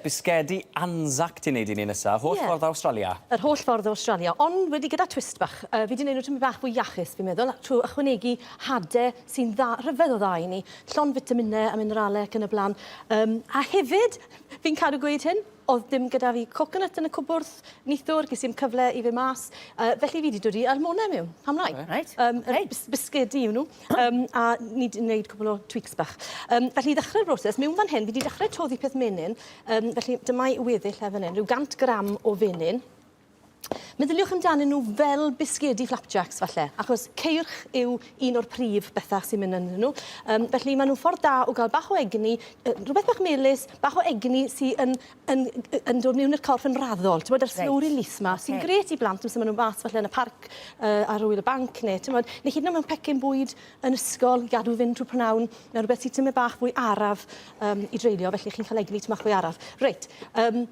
Bisgedi Anzac ti'n neud i ni nesa? Holl ffordd o Awstralia? Yr holl ffordd o Awstralia, ond wedi gyda twist bach. Yy fi 'di neud nhw tymed bach fwy iachus fi'n meddwl, trwy ychwanegu hade sy'n dda, rhyfedd o dda i ni, llond fitamine a minerale ac yn y bla'n. Yym a hefyd, fi'n cadw gweud hyn, o'dd dim gyda fi coconut yn y cwbwrdd neithiwr, ges i'm cyfle i fyn' mas, yy felly fi 'di dod i Almona mewn, pam lai? Reit, ok. Yym bisgedi yw nhw. Um, a ni wedi gwneud cwbl o tweaks bach. Um, felly, ddechrau'r broses. Mewn fan hyn, fi wedi dechrau toddi peth menyn. Um, felly, dyma i weddill efo hyn. Rhyw 100 gram o fenyn. Meddyliwch amdanyn nhw fel bisgedi flapjacks falle, achos ceirch yw un o'r prif bethau sy'n mynd yn nhw. Um, felly maen nhw'n ffordd da o gael bach o egni, rhywbeth bach melus, bach o egni sy'n yn yy yn dod miwn i'r corff yn raddol t'mod yr slow release 'ma sy'n grêt i blant amser ma' n'w fach falle yn y parc yy ar ŵyl y banc ne' t'mod ne' hyd yn o'd mewn pecyn bwyd yn ysgol i gadw fynd trw p'nawn ne' rwbeth sy tymed bach fwy araf yym i dreulio felly chi'n ca'l egni tymed bach fwy araf. Reit yym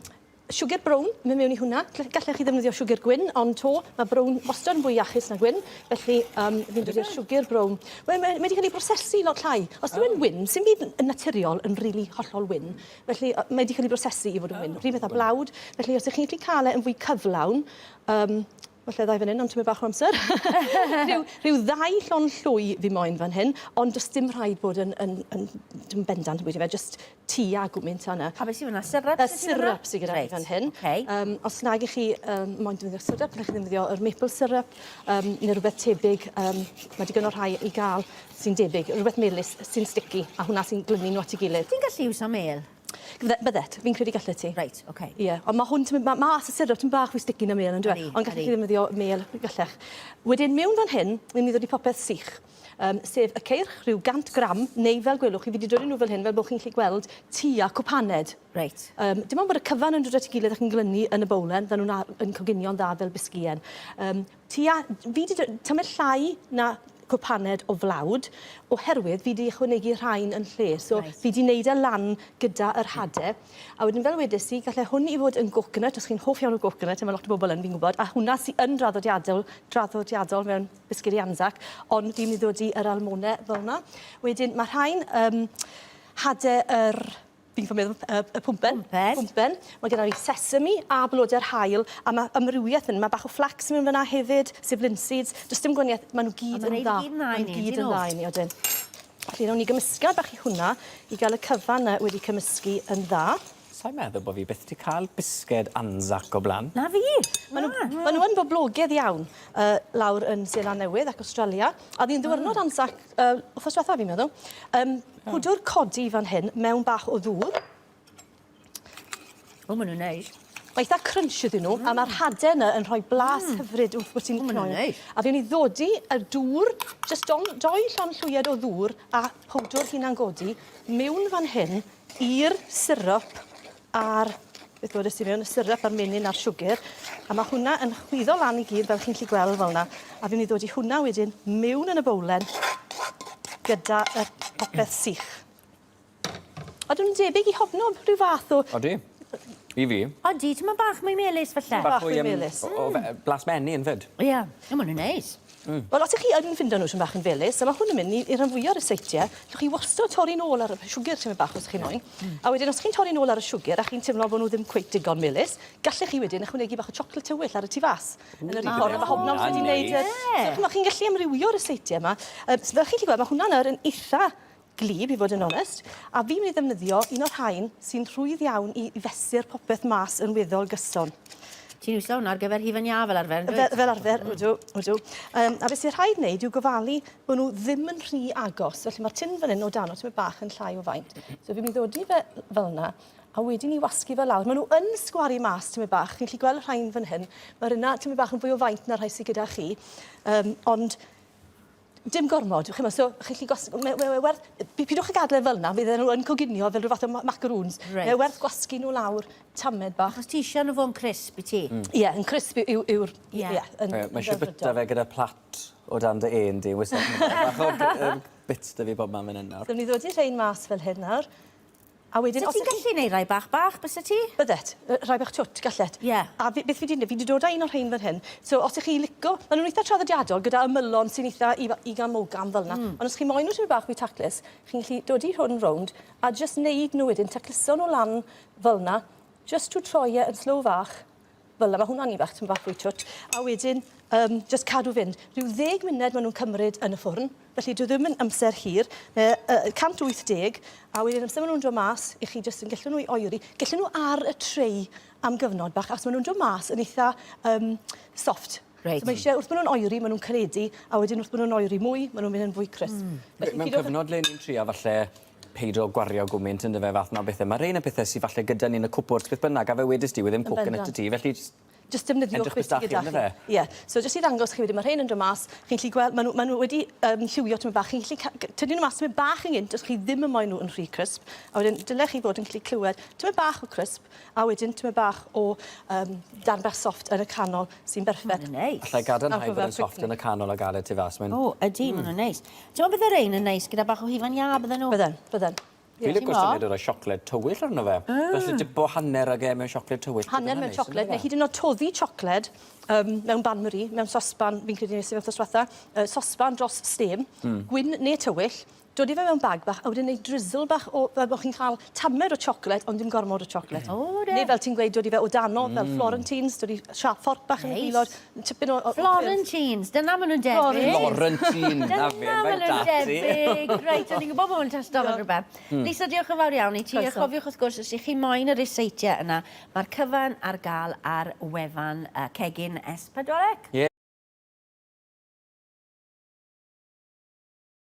siwgr brown myn' miwn i hwnna gy- gallech chi ddefnyddio siwgr gwyn ond 'to ma' brown wastod yn fwy iachus na gwyn felly yym fi'n dwli ar siwgr brown. Wel mae mae 'di ca'l 'i brosesu lot llai. Os yw e'n wyn sim byd n- yn naturiol yn rili hollol wyn Felly, mae wedi cael ei brosesu i fod yn wyn. Rhyw fath â blawd. Felly, os ych chi'n gallu cael e yn fwy cyflawn, um, falle ddau fan hyn, ond ti'n mynd bach o amser. rhyw, rhyw ddau llon llwy fi moyn fan hyn, ond does dim rhaid bod yn, yn, yn, yn bendant yn bwyta fe, just ti a gwmynt yna. A beth sy'n fyna? Syrup? Y syrup sy'n gyda right. fan hyn. Okay. Um, os nag ych chi um, moyn defnyddio syrup, ydych chi ddefnyddio yr maple syrup um, neu rhywbeth tebyg. Um, mae digon o rhai i gael sy'n debyg, rhywbeth melys sy'n sticky, a hwnna sy'n glynu nhw at ei gilydd. Ti'n gallu iwsio mêl? Fydde, byddet, fi'n credu gallet ti. Reit, ocê. Ie, ond ma' hwn tymyn- ma' ma' as y syrup tymyn bach fwy sticky na mêl on'd yw e? Ydi, ydi. Ond gallech chi ddefnyddio mêl, gallech. Wedyn mewn fan hyn, wi myn' i ddod i popeth sych, yym sef y ceirch, rhyw 100 gram, neu fel gwelwch chi fi 'di dwli nw fel hyn fel bo' chi'n gallu gweld tua cwpaned. Reit. Yym dim ond bod y cyfan yn dod at ei gilydd ac yn glynu yn y bowlen fel nw'n a- yn coginio'n dda fel bisgïen. Yym Tua, fi 'di tymed llai na cwpaned o flawd oherwydd fi 'di ychwanegu rhain yn lle. So fi 'di neud e lan gyda yr hade. A wedyn fel wedes i galle hwn i fod yn goconut os chi'n hoff iawn o goconut a ma' lot o bobol yn fi'n gwbod a hwnna sy yn draddodiadol draddodiadol mewn biscuit i Anzac ond fi myn' i ddodi yr almone fel 'na. Wedyn ma' rhain yym hade yr Fi'n ffaelu y y y pwmpen. Pwmpen. Pwmpen. Ma' gyda fi sesame a blode'r haul a ma' amrywieth yn ma' bach o flax mewn fyn 'na hefyd, sef linseeds. Do's dim gwanieth ma' n'w gyd yn dda. A ma' rhein i gyd yn dda i ni on'd 'yn nw? Ma' n'w gyd yn dda i ni odyn. Felly newn ni gymysgad bach i hwnna i ga'l y cyfan 'na wedi cymysgu yn dda. Sai'n meddwl bo' fi byth 'di ca'l bisged Anzac o bla'n. Na fi! Ma' n'w ma' n'w yn boblogedd iawn yy lawr yn Seland Newydd ac Awstralia. O'dd un ddiwrnod Anzac yy wthnos dwetha fi'n meddwl yym Pwdwr codi fan hyn mewn bach o ddŵr. O ma' nw'n neis. Ma' itha crunch ydyn n'w a ma'r hade yna yn rhoi blas hyfryd wrth bo' ti'n cnoi. O ma' nw'n neis. A fi myn' i ddodi y dŵr jyst don- dou llond llwyed o ddŵr a powdwr hunan godi miwn fan hyn i'r syrup a'r beth wedest ti mewn y syrup a'r menyn a'r siwgyr a ma' hwnna yn chwyddo lan i gyd fel chi'n 'llu gweld fel 'na a fi myn' i ddod i hwnna wedyn miwn yn y bowlen gyda y popeth sych. Odw nw'n debyg i hobknob rhyw fath o... Odi. I fi. Odi t'mod bach mwy melys falle. Bach mwy yym... Bach mwy melys. ...o o fe- yy blas menyn 'fyd. Ie. O ma' wnna neis. Mm. Wel, os ych chi yn ffindo nhw tipyn bach yn felys, a ma' hwn yn mynd i i rhan fwya' o ryseitiau, allwch chi wastad torri'n ôl ar y p- siwgr tipyn bach os chi'n moyn. Mm. A wedyn os chi'n torri'n ôl ar y siwgr a chi'n teimlo bo' nhw ddim cweit digon melys, gallech chi wedyn ychwanegu bach o siocled tywyll ar y tu fas. Yn yr un ffordd a ma' Hobnobs wedi neud yr... Ie. So ch'mo' chi'n gallu amrywio ryseitiau 'ma. Yy s- fel chi 'llu gweld ma' hwnna'n nawr yn itha gwlyb i fod yn onest, a fi'n mynd i ddefnyddio un o'r rhain sy'n rhwydd iawn i fesur popeth mas yn weddol gyson. Ti'n iwso hwnna ar gyfer hufen iâ fel arfer yndwyt? Fe- fel arfer, ydw, ydw. Yym, a be' sy rhaid wneud yw gofalu bo' nhw ddim yn rhy agos. Felly ma'r tin fan 'yn o dano tipyn bach yn llai o faint. So fi'n mynd i ddodi fe fel 'na, a wedyn 'ny wasgu fe lawr. Ma' nhw yn sgwaru mas tipyn bach. Chi'n gallu gweld y rhain fan hyn. Ma'r yna tipyn bach yn fwy o faint na'r rhai sy gyda chi. Yym, ond Dim gormod, ch'mo', so chi 'llu gwas- mae mae werth... P- pidwch a gadel e fel 'na, fydden nhw yn coginio fel rhyw fath o ma- macaroons. Reit. Mae werth gwasgu nhw lawr tamed bach. Achos ti isio nhw fo'n crisp i ti. Mm. Ie, yn crisp yw yw yw'r i- Ie. ie, yn Ie, mae isio delfrydol. byta fe gyda plat o dan dy ên di, wastad yn bach o g- yym bits 'da fi bobman fan 'yn nawr. Newn ni ddodi rhein mas fel hyn nawr. A wedyn os... Sa ti'n gallu neud rhai bach bach, byse ti? Byddet. Yy rhai bach twt, gallet. Ie. A fi... beth fi 'di ne- fi 'di dod â un o'r rhein fan hyn, so os 'ych chi lico... Ma' nw'n itha traddodiadol gyda ymylon sy'n itha ifa- ugain mogain fel 'na. Hmm. Ond os chi moyn n'w tipyn bach mwy taclus, chi'n gallu dodi hwn rownd a jyst neud n'w wedyn, tacluso n'w lan fel 'na, jyst to troi e yn slow fach, fel 'na, ma' hwnna'n un bach, tipyn bach fwy twt, a wedyn yym jyst cadw fynd. Rhyw ddeg munud ma' nw'n cymryd yn y ffwrn, felly dyw e ddim yn amser hir. Mae e yy yy 180, a wedyn amser ma' nw'n dod mas, 'ych chi jyst yn gellu nhw i oeri. Gellu nhw ar y tray am gyfnod bach, achos ma' nw'n dod mas yn eitha yym soft. Reit. So ma' isie, wrth bo' nw'n oeri, ma' nw'n caledu, a wedyn wrth bo' nw'n oeri mwy, ma' nw'n myn' yn fwy crisp. Hmm. Felly... Mewn cyfnod le ni'n trio falle peidio gwario gwmynt ynddo fe fath 'na o bethe. Ma' rhein yn pethe sy falle gyda ni yn y cwpwrdd beth bynnag a fel wedest ti wedd e'n poke yn y tŷ ti felly jyst Jyst defnyddio edrych beth sy gyda chi. Edrych beth sy gyda chi on'd yfe? Ie. So jyst i ddangos chi wedyn ma' rhein yn do' mas chi'n gallu gwel' ma' n'w ma' n'w wedi yym lliwio tymed bach chi'n gallu ca- g- tynnu n'w mas tymed bach yn gynt os chi ddim yn moyn n'w yn rhy crisp a wedyn dyle chi fod yn gallu clywed tymed bach o crisp a wedyn tymed bach o yym darn bach soft yn y canol sy'n berffeth. Ma'n neis. Allai gadarnhau bod e'n soft yn y canol a ga'l e tu fas mae'n... O ydi ma' n'w'n neis. T'mo' bydde rein yn neis gyda bach o hufen iâ bydden nhw? Bydden, bydden. Ie. Fi'n lico syniad o roi siocled tywyll arno fe. Mm. Felly dipo hanner ag e mewn siocled tywyll. Hanner mewn siocled neu hyd yn o'd toddi siocled yym mewn bain marie, mewn sosban, fi'n credu nes i fe wthnos dwetha, yy sosban dros stêm. Hmm. Gwyn ne' tywyll, dodi fe mewn bag bach a wedyn neud drizzle bach o fel bo' chi'n ca'l tamed o chocolate ond dim gormod o chocolate. O ie. Ne' fel ti'n gweud dod i fe o dano fel florentines dod i siâp fforc bach yn y gwilod. Neis. Tipyn o o o ffyrdd. Florentines, dyna ma' nw'n debyg. Florentines. Dyna fe, mae 'da ti. Dyna ma' nw'n debyg. Reit, o'n i'n gwbo bo' 'wn yn testo fel rwbeth. Hmm. Lisa, diolch yn fawr iawn i ti. Croeso. A chofiwch wrth gwrs os 'ych chi moyn y ryseitiau yna, ma'r cyfan ar ga'l ar wefan yy Cegin Es Pedwar Ec. Ie.